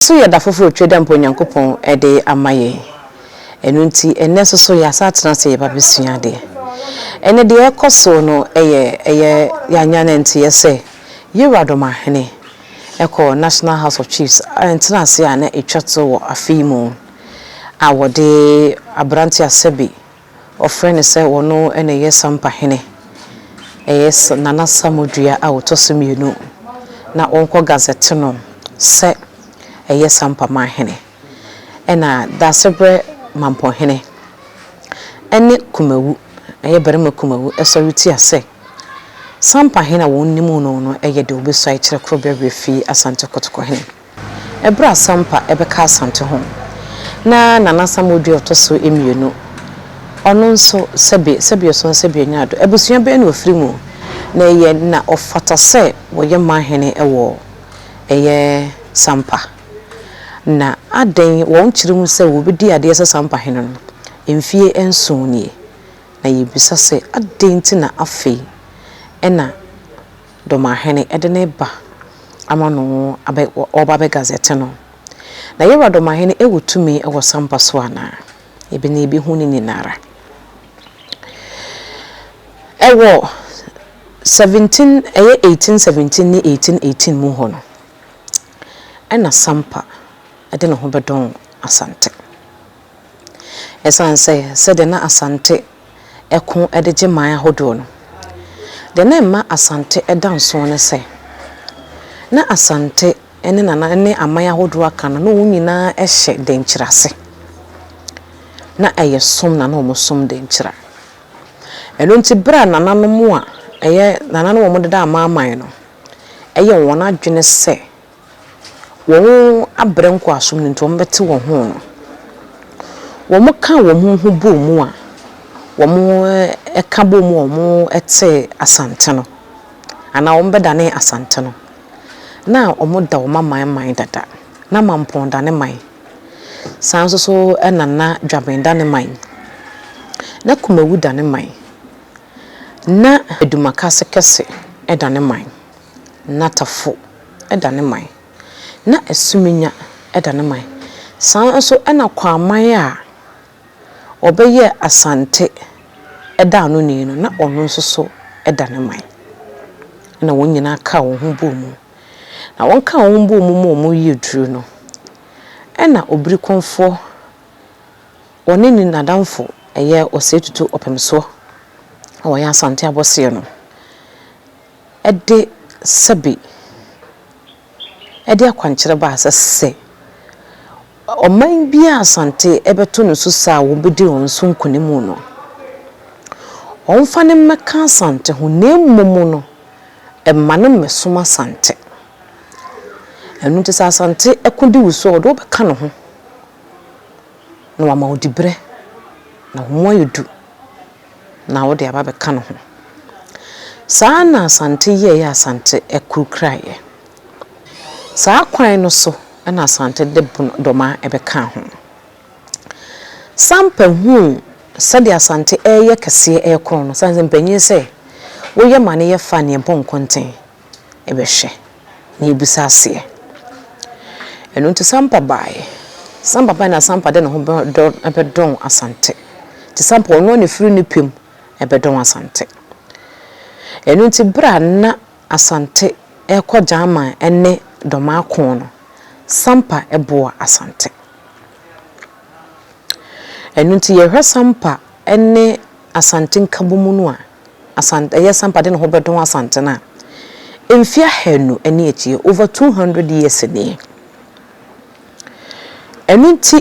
So yɛ da foforo twa da mpo a Onyankopɔn de ama yɛn? Ɛno nti, ɛnnɛ nso so yɛasan atena ase reba abɛsua adeɛ. Ɛnnɛ deɛ ɛrekɔ so no yɛ ɛyɛ yɛanya no nteɛ sɛ Yehowa dɔm ahene kɔ National House of Chiefs ntenaseɛ a na ɛtwa to wɔ afe yi mu a wɔde aberanteɛ Asebi Wɔfrɛ no sɛ ɔno na ɛyɛ Sampahene. Ɛyɛ Nana Samodua a ɔtɔ so mmienu. Na ɔnkɔ gazɛte no sɛ ɛyɛ Sampamanhene. Ɛna Daasebrɛ Mampɔhene ne Kumawu, ɛyɛ barima Kumawu, sɔre tia sɛ Sampahene a wɔnim no no yɛ deɛ ɔbɛsuae kyerɛ Korɔbea Werɛ fii Asante Kɔtɔkɔhene. Ɛberɛ a Sampa bɛka Asante ho, na Nana Samuel dua a ɔtɔ so mmienu, ɔno nso sɛbe sɛbeɛ so nsa bi anya ado. Abusua bɛn na ɔfiri mu, na ɛyɛ na ɔfata sɛ wɔyɛ Mahene wɔ ɛyɛ Sampa, na adɛn wɔn kyerɛ mu sɛ wɔbɛdi adeɛ sɛ Sampa Hene no? Mfeɛ nson nie, na yɛbisa sɛ adɛn nti na afei na. Domahene de ne ba ama no abɛ ɔreba abɛgazɛte no. Na Yɛwura Domahene wɔ tumi wɔ sampa so anaa? Yɛbɛ na yɛbɛhu ne nyinara. Wɔ 17 ɛyɛ 1817 ne 1818 mu hɔ no, ɛna sampa de ne ho bɛdɔn Asante. Ɛsiane sɛ sɛdeɛ na Asante ko de gye man ahodoɔ no. Deɛ na ɛma Asante da nsoɔ ne sɛ, na Asante ne Nana ne aman ahodoɔ aka no, na wɔn nyinaa hyɛ Denkyira ase. Na ɛyɛ som na na wɔsom Denkyira. Ɛno nti berɛ a Nananom a ɛyɛ Nana ne wɔn deda amanaman no yɛ wɔn adwene sɛ, wɔabrɛ nkoasom no nti wɔbɛte wɔn ho no, wɔka wɔn ho bɔɔ mu a wɔka bɔɔ mu a wɔte Asante no, anaa wɔbɛdane Asante no, na wɔda wɔn aman man dada. Na Mampɔn da ne man. Saa nso so na na Dwabɛn da ne man. Na Kumawu da ne man. Na Adumakase kɛse da ne man, na Tafo da ne man, na Asuminya da ne man, saa ara nso na Kwaman a ɔbɛyɛɛ Asante da ano ni no, na ɔno nso so da ne man. Ɛnna wɔn nyinaa kaa wɔn ho bɔɔ mu. Na wɔkaa wɔn ho bɔɔ mu ma wɔyɛɛ duru no, ɛnna Obirikɔmfoɔ. Ɔne ne nadamfo yɛ ɔsɛe tutu ɔpem so a wɔyɛ asante abɔseɛ no de sɛbe de akwankyerɛ baa sɛ sɛ ɔman bi a asante bɛto no so saa a wɔbɛdi wɔn so nkonim no, wɔmfa no mmɛka asante ho na mmom no mma no mmɛsom asante. Ɛno nti sɛ asante ko di wo so a, ɔde wo bɛka ne ho. na wama wo diberɛ, na wo mu ayɛ du, na wode aba abɛka ne ho. Saa na Asante yɛeɛ Asante akuru kuraeɛ. Saa kwan no so na Asante de Bodoma bɛkaa ho. Sampa huu sɛdeɛ Asante reyɛ kɛseɛ rekorɔn no, sane sɛ mpanyin sɛ, woyɛ ma no yɛ fa neɛ bɔ nkɔnten, bɛhwɛ na yɛbisa aseɛ. Ɛno nti Sampa baeɛ. Sampa baeɛ na Sampa de ne ho bɛdɔn Asante. Nti Sampa ɔno ara na ɔfiri ne pɛ mu bɛdɔn Asante. Ɛno nti berɛ a na Asante rekɔ Gyaman ne Dɔmaako no, Sampa boa Asante. Ɛno nti yɛhwɛ Sampa ne Asante nkabom no a, Asant ɛyɛ Sampa de ne ho bɛdon Asante no a, mfe ahanu ne akyire, over 200 years nie. Ɛno nti,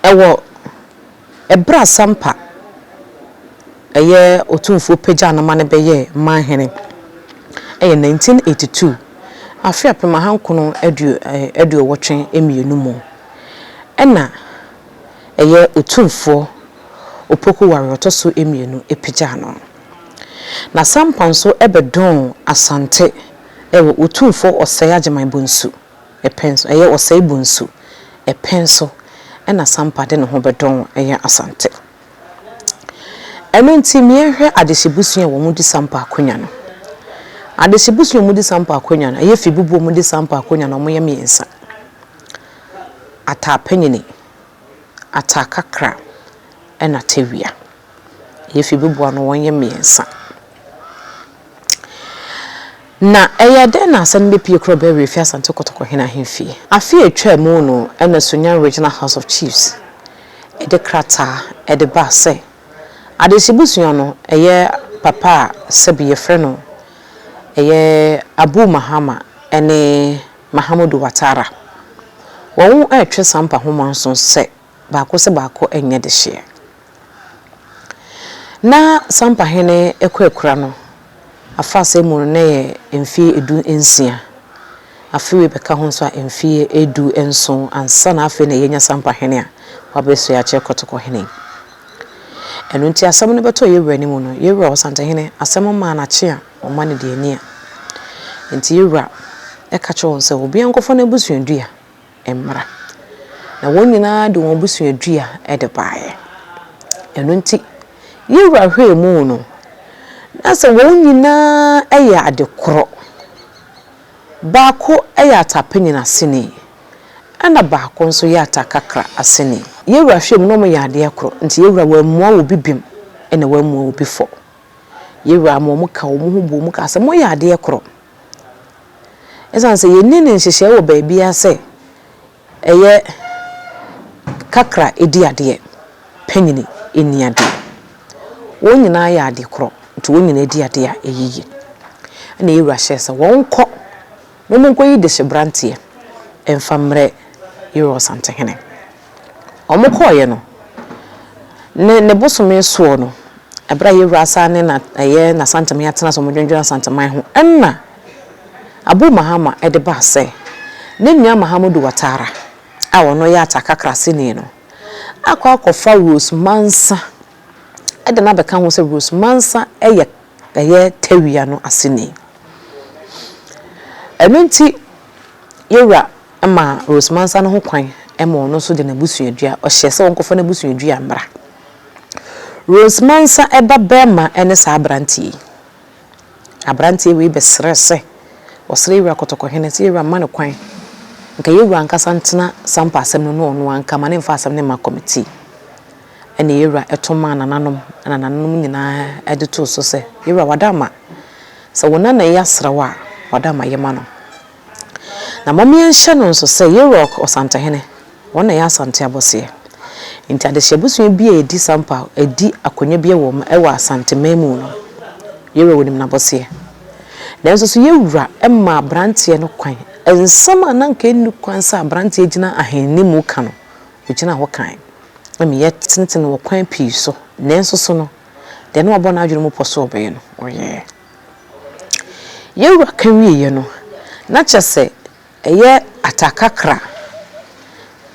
ɛwɔ ɛberɛ a Sampa ɛyɛ Otumfuo pagyaa no ma no bɛyɛɛ Manhene, ɛyɛ 1982, afe apem ahankono aduo, aduowɔtwe mmienu mu, ɛna, ɛyɛ Otumfoɔ Opoku Ware Ɔtɔ So Mmienu pagyaa no. N'asampa nso bɛdɔɔn Asante wɔ Otumfoɔ Osei Agyemang Bonsu pɛn so, ɛyɛ Osei Bonsu pɛn so na Asampa de ne ho bɛdɔɔn yɛ Asante. Ɛno nti ma yɛnhwɛ Adehye Busua a wɔn di Sampa akonya no. Adehye Busua a wɔn di Sampa akonya no, ɛyɛ Fibubu a wɔn di Sampa akonya no, wɔyɛ mmiɛnsa. Ataapanyin, Ataakakra na Tawia. Yefi Beboa no wɔyɛ mmiɛnsa. Na ɛyɛ dɛn na asɛm no bepue kura Bɛwɛ efi Asante Kotoko hene ahemfie? Afe a etwaa mu no na Sunyani Regional House of Chiefs de krataa de baa sɛ Adehye busua no yɛ papa a sɛbi yɛfrɛ no ɛyɛ Abu Mahama ne Mahamudu Watara. Wɔretwe sampa ho mɔnso sɛ baako sɛ baako nyɛ dehyeɛ. Na sampa hene ɛkɔ akura no afahyɛ mu no na ɛyɛ mfeɛ edu nsia. Afe wei bɛka ho nso a mfeɛ edu nson ansa na afei na yɛnya sampa hene a wabɛsoɛ akyerɛ kɔtɔkɔ hene yi. Ɛno nti asɛm no bɛtɔɔ yɛwura no mu no, yɛwura Ɔsantehene asɛm maa no akyea. Ɔma no deɛ ani a Enti yɛn Wura ka kyerɛ wɔn sɛ, Obiara nkɔfa n'abusuadua mmra. Na wɔn nyinaa de wɔn abusuadua de baeɛ. Ɛno nti yɛn Wura hwɛɛ mu no, na sɛ wɔn nyinaa yɛ ade korɔ. Baako yɛ atapenyin aseni, ɛna baako nso yɛ atakakra aseni. Yɛn Wura hwɛɛ mu na wɔyɛ adeɛ korɔ, enti yɛn Wura wammua obi bem, ɛna wammua obi fɔ. Yɛn Wura ma wɔka wɔn ho bom kaa sɛ, Moyɛ adeɛ korɔ. Ɛsiane sɛ yɛnni no nhyehyɛeɛ wɔ baabiara sɛ ɛyɛ kakra di adeɛ, panyini nni adeɛ. Wɔn nyinaa yɛ ade korɔ, nti wɔn nyinaa di adeɛ a, ɛyɛ yie. Ɛnna yɛn Wura hyɛɛ sɛ wɔnkɔ na wɔnkɔyi dehyeberanteɛ mfa mmrɛ yɛn Wura Ɔsantehene. Wɔkɔeɛ no, ne ne bosome soɔ no, berɛ a Yawura Asaah ne na ɛyɛ N'Asanteman atena ase a wɔdwendwene Asanteman ho, ɛna Abu Mahama de baa sɛ, ne nua Mahamudu Watara a ɔno yɛ Ataka Krasini no akɔ akɔfa Rose Mansa de no abɛka ho sɛ Rose Mansa yɛ ɛyɛ Tawia no aseni. Ɛno nti Yawura. ma Rose Mansa no ho kwan ma ɔno nso de n'abusuadua, ɔhyɛ sɛ wɔnkɔfa n'abusuadua mmra. Rose Mansa ba barima ne saa aberanteɛ yi. Aberanteɛ wei bɛsrɛ sɛ ɔsrɛ Yawura Kɔtɔkɔhene sɛ Yawura mma no kwan, nka Yawura ankasa ntena sampa asɛm no ne ɔno ara nka, ma no mfa asɛm no mma kɔmitii. Ɛnna Yawura to maa nananom, ɛnna nananom nyinaa de too so sɛ, Yawura, w'adamma, sɛ wo nana yi asrɛ wo a, w'adamma yɛ ma no. Na momeɛnhyɛ no nso sɛ Yeiroc Ɔsantehene, wɔn na ɛyɛ Asante abɔseɛ. Enti adehyeɛ bosome bi a ɛdi sampa adi akonya bi wɔ mu wɔ Asante man mu no, Yeiroc nim n'abɔseɛ. Nanso so Yeiwura mmaa abranteɛ no kwan? Nsɛm a na nka ɛnni kwan sɛ abranteɛ gyina ahenni mu ka no, ɔgyina hɔ kae. Na meyɛ tenten wɔ kwan pii so, nanso so no, deɛ na wabɔ n'adwene mu pɔ sɛ ɔbɛyɛ no, ɔyɛɛ. Yɛn wura ka wieeɛ no, na kyerɛ sɛ ɛyɛ Atakakra,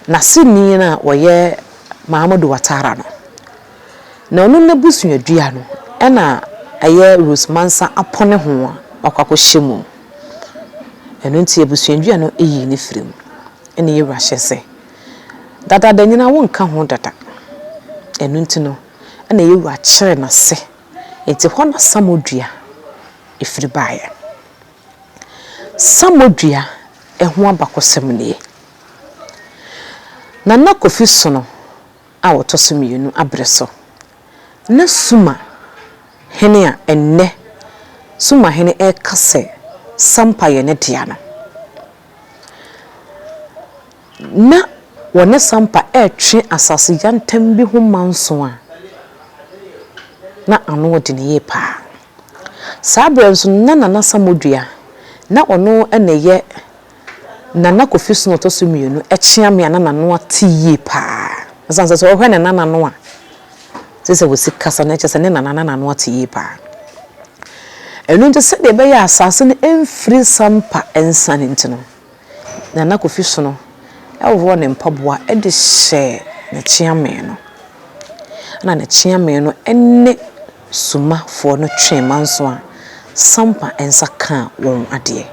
n'aseni no a ɔyɛ Mahamudu Watara no. Na ɔno n'abusuadua no na ɛyɛ Rose Mansa apɔne ho a wakɔ akɔhyɛ mu. Ɛno nti abusuadua no yii no firii mu. Ɛnna yɛn wura hyɛɛ sɛ, Dadaada nyinaa wonka ho dada. Ɛno nti no, ɛnna yɛn wura kyeree no ase. Enti hɔ na samodua firi baeɛ. Samodua ho abakɔsɛm nie, Nana Kofi Sono a ɔtɔ so mmienu aberɛ so na Suma hene a ɛnnɛ Suma hene reka sɛ Sampa yɛ ne dea no. Ná wɔne Sampa retwe asase yantam bi ho manso a na ano yɛ den yie paa. Saa berɛ no nso na Nana Samodua, na ɔno na ɛyɛ Nana Kofi Snow a ɔtɔ so mmienu, kyeame a na n'ano ate yie paa. Ɛsiane sɛ sɛ wohwɛ ne nana no a, te sɛ wɔsi kasa no, kyerɛ sɛ ne nana na n'ano ate yie paa. Ɛno nti sɛdeɛ ɛbɛyɛ a asase no mfiri Sampa nsa no nti no, Nana Kofi Sono worɔ ne mpaboa de hyɛ ne kyeame no. Ɛna ne kyeame no ne Sumafoɔ no twee manso a, Sampa nsa kaa wɔn adeɛ.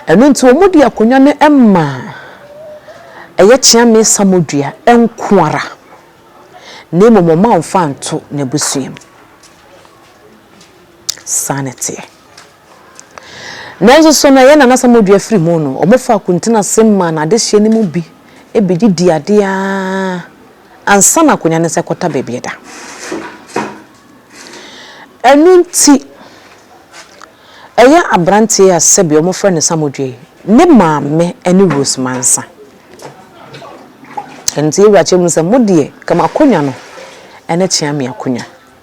Ɛno nti wɔde akonnwa no maa ɛyɛ Kyeame Samodua nko ara, na mmom wɔamfa anto n'abusuam. Saa na ɛteɛ. Nanso so na yɛn nanasa mogya afiri mu no? Wɔfaa kuntinasɛm maa no adehyeɛ no mu bi bi de dii adeɛ ara ansa na akonnwa no nsa kɔta baabi a ɛda. Ɛno nti, ɛyɛ aberanteɛ a sɛbi wɔfrɛ no Samodwe yi ne maame ne Rose Mansa. Ɛno nti yɛwura kyerɛ mu sɛ mo deɛ kama akonnwa no ne Kyeame akonnwa.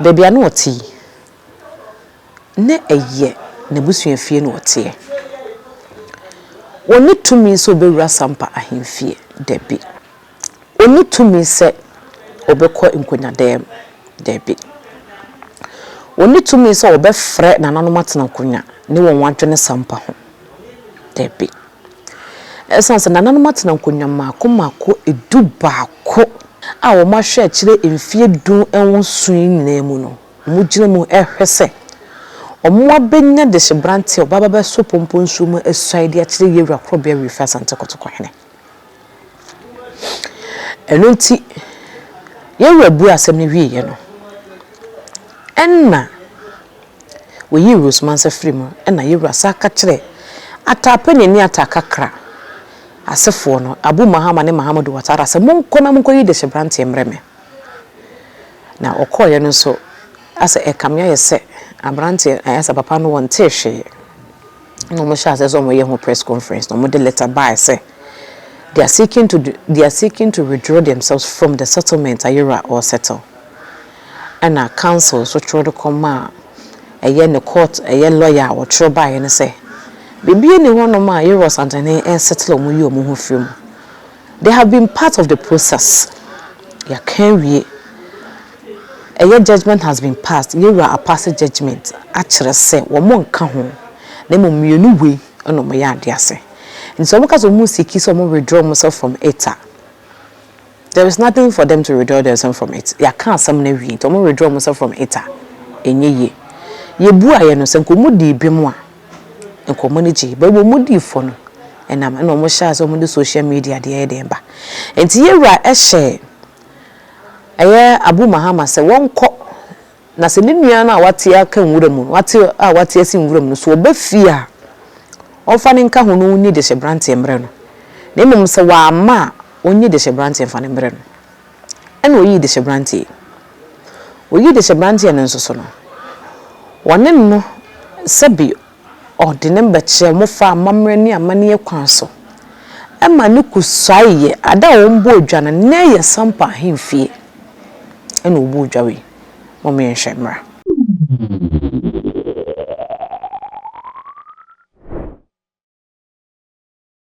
Baabi a na ɔte yi, na ɛyɛ n'abusuafie na ɔteɛ. Ɔnni tumi sɛ ɔbɛwura Sampa ahemfie, dabi. Ɔnni tumi sɛ ɔbɛkɔ nkonyadɛɛm, dabi. Ɔnni tumi sɛ ɔbɛfrɛ nananom atena nkonya ne wɔn adwene Sampa ho, dabi. Esiane sɛ nananom atena nkonnwa mmaako mmaako du baako a wɔahwɛ akyire mfeɛ du nwɔnson yi nyinaa mu no, wɔgyina mu rehwɛ sɛ wɔabɛnya dehyeberanteɛ a ɔbɛba abɛso Pompo nsuo mu asuaeɛ de akyerɛ yɛn Wura Korɔbea Wifi Asante Kotoko Hene. Ɛno nti, yɛn Wura buee asɛm no wieeɛ no, ɛnna Woyii Rose Mansa firii mu na Yewura saa ka kyerɛɛ Atta panyin ne Atta Kakra asefoɔ no, Abu Mahama ne Mahamudu Watara sɛ monkɔ na monkɔyi Deshebranteɛ mmerɛ me. Na ɔkɔɔeɛ no nso asɛ ɛkame ayɛ sɛ abranteɛ ayɛ sɛ papa no wɔntee hwee na wɔn hyɛɛ aseɛ sɛ wɔn yɛ ho press conference na wɔn de letter baaɛ sɛ they are seeking to they are seeking to withdraw themselves from the settlement a Yewura ɔɔsettle. ɛna council nso twerɛ de kɔmaa ɛyɛ ne court ɛyɛ lawyer a wɔtwerɛ baeɛ no sɛ biribiara nni hɔnom a Yero Asantehene resettle wɔn yi wɔn ho firi mu. They have been part of the process. Yɛaka awie. Ɛyɛ judgment has been passed. Yewura apase judgment akyerɛ sɛ wɔn nka ho na mmom mmienu wei ɛna wɔn yɛ adeɛ ase. Nti sɛ wɔn ka sɛ wɔn siki sɛ wɔn withdraw wɔn self from it a, There is nothing for them to withdraw themselves from it, yɛaka asɛm no awie nti ɔmo withdraw ɔmo sɛ from it a ɛnyɛ yie. Yɛbuaeɛ no sɛ nka ɔmo dii bem a nka ɔmo ani gyee but ɔmo dii fɔ no ɛnam ɛna ɔmo hyɛɛ aseɛ ɔmo de social media deɛ ɛyɛ dɛn ba nti yɛwura hyɛɛ ɛyɛ Abu Mahama sɛ wɔnkɔ Na sɛ ne nua no a wate aka nwura mu no, wate a wate asi nwura mu no, sɛ ɔba fie a, ɔmfa no nka ho na ɔnyi dehyeberanteɛ mmrɛ no, na mmom sɛ wamma a, ɔnyi dehyeberanteɛ mfa no mmrɛ no. Ɛnna ɔyii dehyeberanteɛ yi. Ɔyii dehyeberanteɛ no nso so no, wɔne no sɛbe Ɔde ne mba kyerɛɛ mo faa amammerɛ ne amanneɛ kwan so ma no kosuae yɛ ada a wɔbɔɔ dwa no, nnɛ yɛ sampa ahemfie na wɔbɔɔ dwa wei, mom yɛnhwɛ mmra.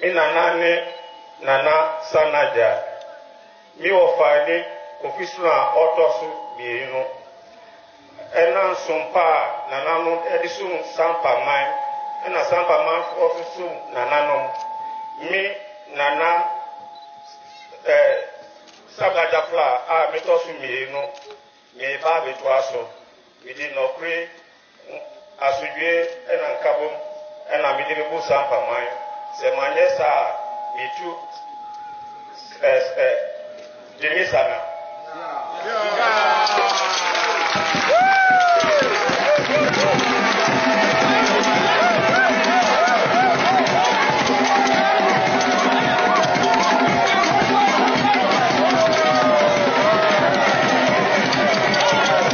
Me nana ne Nana Sanagya. Me wɔfa ne Kofi Sona a ɔtɔ so mmienu no. Ɛna nsom pa a nananom de som Sampa man ɛna Sampa manfoɔ nso som nananom. Me Nana eh, Sanagya Fla a metɔ so mmienu no, mereba abɛtoa so. Mede nɔkore Asodwoe na nkabom na mede bebu saa mpaman. Sɛ manyɛ saa a, metu Gyimmy Sana.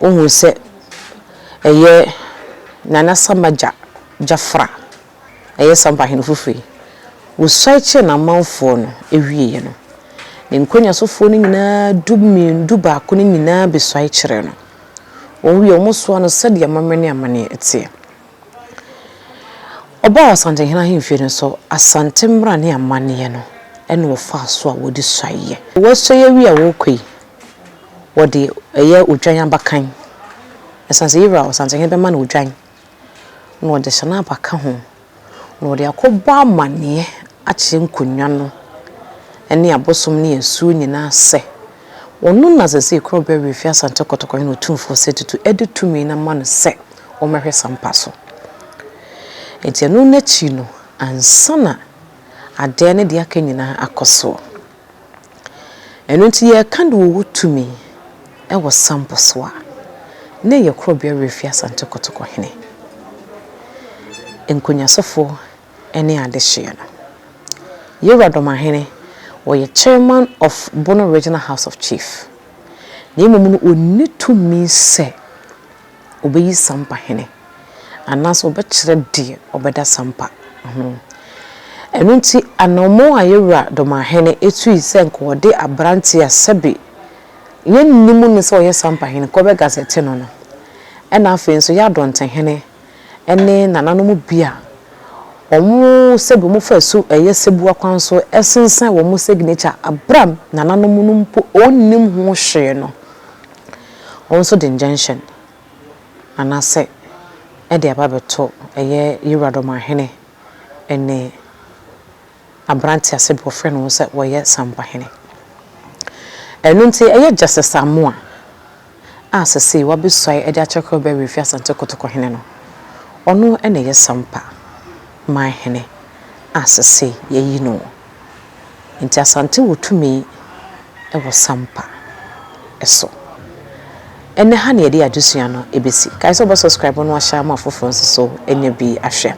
Wohu sɛ ɛyɛ Nana Sama gya Gyafra, ɛyɛ Sampa Ahene Foforo yi. Wosuae kyerɛɛ n'amanfoɔ no wieeɛ no, ne nkɔnyasofoɔ no nyinaa du mmienu, du baako no nyinaa bɛsuae kyerɛɛ no. Wɔn wieeɛ wɔsoaa no sɛdeɛ amammerɛ ne amanneɛ teɛ. Ɔbaa Ɔsantehene ahemfie no so Asante mmara ne amanneɛ no na wɔfaa so a wɔde suaeɛ. Woasua awie a worekɔ yi, wɔde ɛyɛ odwan abakan. Ɛsiane sɛ Yewura Ɔsantehene bɛma no odwan na ɔde hyɛ n'aba ka ho na ɔde akɔbɔ amanneɛ akyerɛ nkonnwa no ne abosom ne asuo nyinaa sɛ, Ɔno na Zazee Kuro Bɛwee fi Asante Kɔtɔkɔ hene Otumfoɔ Sɛ Tutu de tumi no ama no sɛ ɔmmɛhwɛ Sampa so. Enti ɛno no akyi no ansa na adeɛ ne deɛ aka nyinaa akɔ soɔ. Ɛno nti yɛreka deɛ ɔwɔ tumi wɔ Sampa so a, na ɛyɛ Kuro Bɛwee fi Asante Kɔtɔkɔ hene. Nkonyasofo ne adehyeɛ no. Yeowura Domahene, ɔyɛ Chairman of Bono Regional House of Chief, na mmom no ɔnni tumi sɛ ɔbɛyi Sampa Hene anaasɛ ɔbɛkyerɛ deɛ ɔbɛda Sampa ho. Ɛno nti anamɔn a Yeowura Domahene tui sɛ nka ɔde abranteɛ a sɛbe yɛnnim no sɛ ɔyɛ Sampa Hene kɔbɛ gazɛte no no, ɛna afei nso Yadon Tehene, ne nananom bi a wɔn sɛb wɔn fa su yɛ sɛbua kwan so sensɛn wɔn signature bere a nananom no mpo wɔnnim ho hwee no, wɔn nso de injunction anaasɛ de aba abɛto ɛyɛ Yewuradɔm Ahene ne aberanteɛ ase bɔ frɛ ne ho sɛ ɔyɛ Sampahene. Ɛno nti ɛyɛ Justice Amoah a sesei wabɛsuae de akyerɛ kwan bɛwe afi Asante Kotoko Hene no, ɔno na ɛyɛ Sampa man hene a sesei yɛayi no. Nti Asante wɔ tumi wɔ Sampa so. Ɛnɛ ha na yɛde adesua no besi. Kae sɛ wobɛ subscribe na wahyɛ ama afoforɔ nso so anya bi ahwɛ.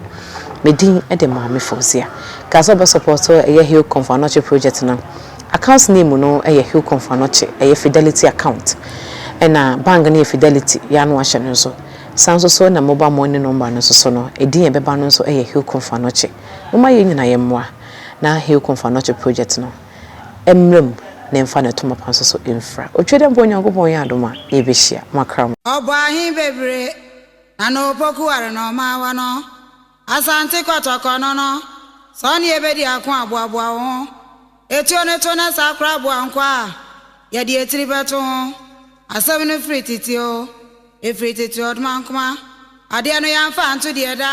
Me din de Maame Fauziah. Kae sɛ wobɛ support ɛyɛ Hilcom for Anɔkye project no. Account name no yɛ Hilcom for Anɔkye, ɛyɛ Fidelity account. Ɛna bank no yɛ Fidelity, yɛ a na wahyɛ no nso. Saa nso so na mobile money number no nso so no, ɛdin a ɛbɛba no nso yɛ Hilcom for Anɔkye. Momma yɛn nyinaa yɛmmoa na Hilcom for Anɔkye project no. mmra mu na ɛmfa no ɛto mapa nso so mfra. Otwa dɛ mpo Onyankopɔn yɛ adom a, yɛbɛhyia. Moakra mo. Ɔbɔ ahe bebire na no opoku ware na ɔma awa no Asante kɔtɔkɔ no no Sɛ ɔne yɛ bɛdi ako a boaboa wo ho Etuo no to na saa koraa boa nkwa a yɛde etiri bɛto ho Asɛm no firi tete o, efiri tete Ɔdomankoma adeɛ no yɛmfa nto deɛ ɛda